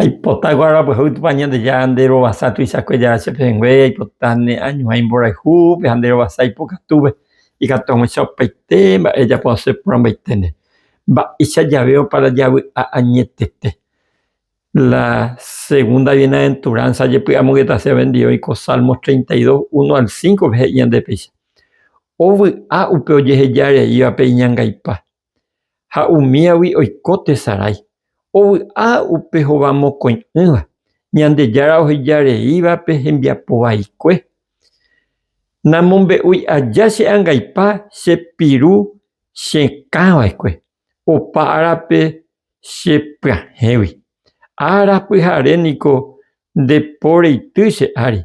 Aipota guarapuehágui Tupã Ñandejára nde rovasa tuichakue Jára che pehẽngue, aipota ne añuhãi mborayhúpe ha nde rovasa ipokatúpe, ikatu aguãicha opaite mba'e ejapo asẽ porãmbaitende, mba'eicha jave oparajavy'a añetete. La segunda bienaventuranza jepy'amongetase vove ndive oiko Salmo 32, 1 al 5 pe he'i ñande péicha, Ovy'a upe ojeheja reívape iñangaipa, ha umíagui oiko tesarái, ovy'a upe hova mokõi'ỹva, Ñandejára oheja reívape hembiapo vaikue. Namombe'úi aja che angaipa che piru chekã vaekue, opa árape che pyahẽgui. Ára pyhare niko nde po reity che ári,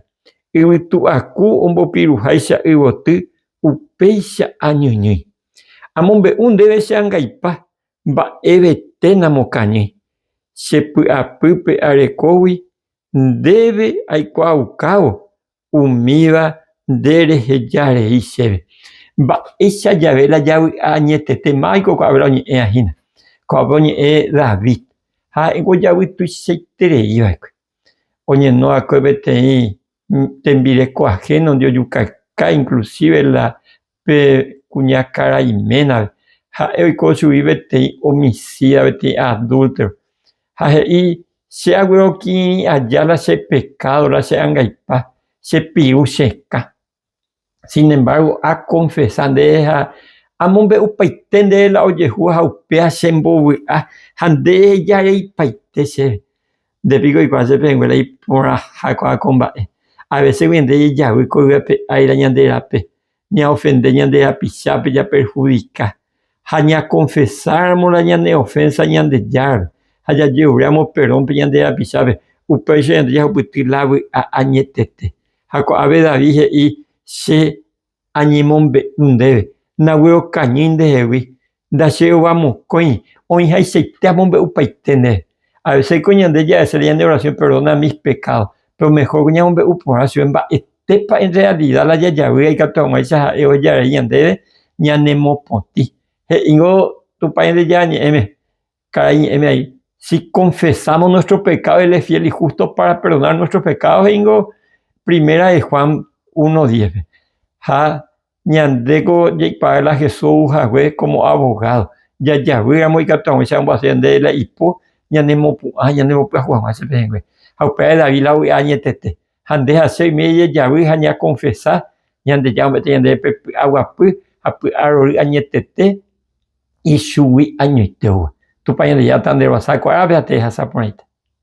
yvytu aku ombopiruháicha yvoty upéicha añyñýi. Amombe'u ndéve che angaipa mba'evete namokañýi. Che py'apýpe arekógui ndéve aikuaaukávo umíva nde reheja rei chéve. Mba'éicha jave la javy'a añetete máiko ko'ápe la oñe'ẽva hína. Ko'ápe oñe'ẽ David. Ha'éko javytuichaiterei va'ekue. Oñeno va'ekue peteĩ tembireko ajénondi ojukakái, inklusíve la Pe kuñakarai ménare, ha'e oiko chugui peteĩ omicida, peteĩ adúltero, ha he'i, Che aguero kirirĩ aja la che pekádo la che angaipa, chepiru chekã. Sin embárgo, akonfesa ndéve ha amombe'upaite ndéve la ojehu ha upéva chembovy'a ha nde ejareipaite chéve. Nde piko oikuaa che pehẽnguéra iporãhakuaa ko mba'e. Avecégui ende jejavy ko yvy ape áira ñande rape, ñaofende ñande rapichápe japerhudika. Ha ñakonfesáramo la ñane ofénsa Ñandejárape ha jajeruréramo perrónpe ñande rapichápe, upéicha ñande jahupyty la vy'a añetete. Ha ko'ápe David he'i, Che Añemombe'u ndéve, nague okañýi ndehegui, ndaché'ova mokõi, oĩhaichaite amombe'upaite ndéve. A veces-ko ñande jahecháre ñande oración perdona mis pecados, pero mejor-ko ñamombe'u porã chupe mba'etépa en realidad la jajavýva ikatu hag̃uáicha Ha'e ojarai ñandéve ñanemopotĩ. He'íngo Tupãrente Ñañe'ẽme, Karai ñe'ẽme ai, si konfesámo nuestro pekádo, él es fiel y justo pára perdonar nuestros pecados, he'íngo primera de Juan uno diéspe. Ha ñandéko jaikuaáva la Jesús ou hague kómo abogado, jajavýramo ikatu ag̃uicha omboaséva ndéve la ipo ñanemopu'ã, ñanembopyahu hag̃ua che pehẽngue. Ha upévare David la ovy'a añetete. ha nde hasy oime jejavy ha ñakonfesa Ñandejára ombo'ete ñandéve pe py'aguapy ha py'arory añetete ichugui añoitéva. Tupã Ñandejára tanderuasa kuarápe ha tehasa porãite.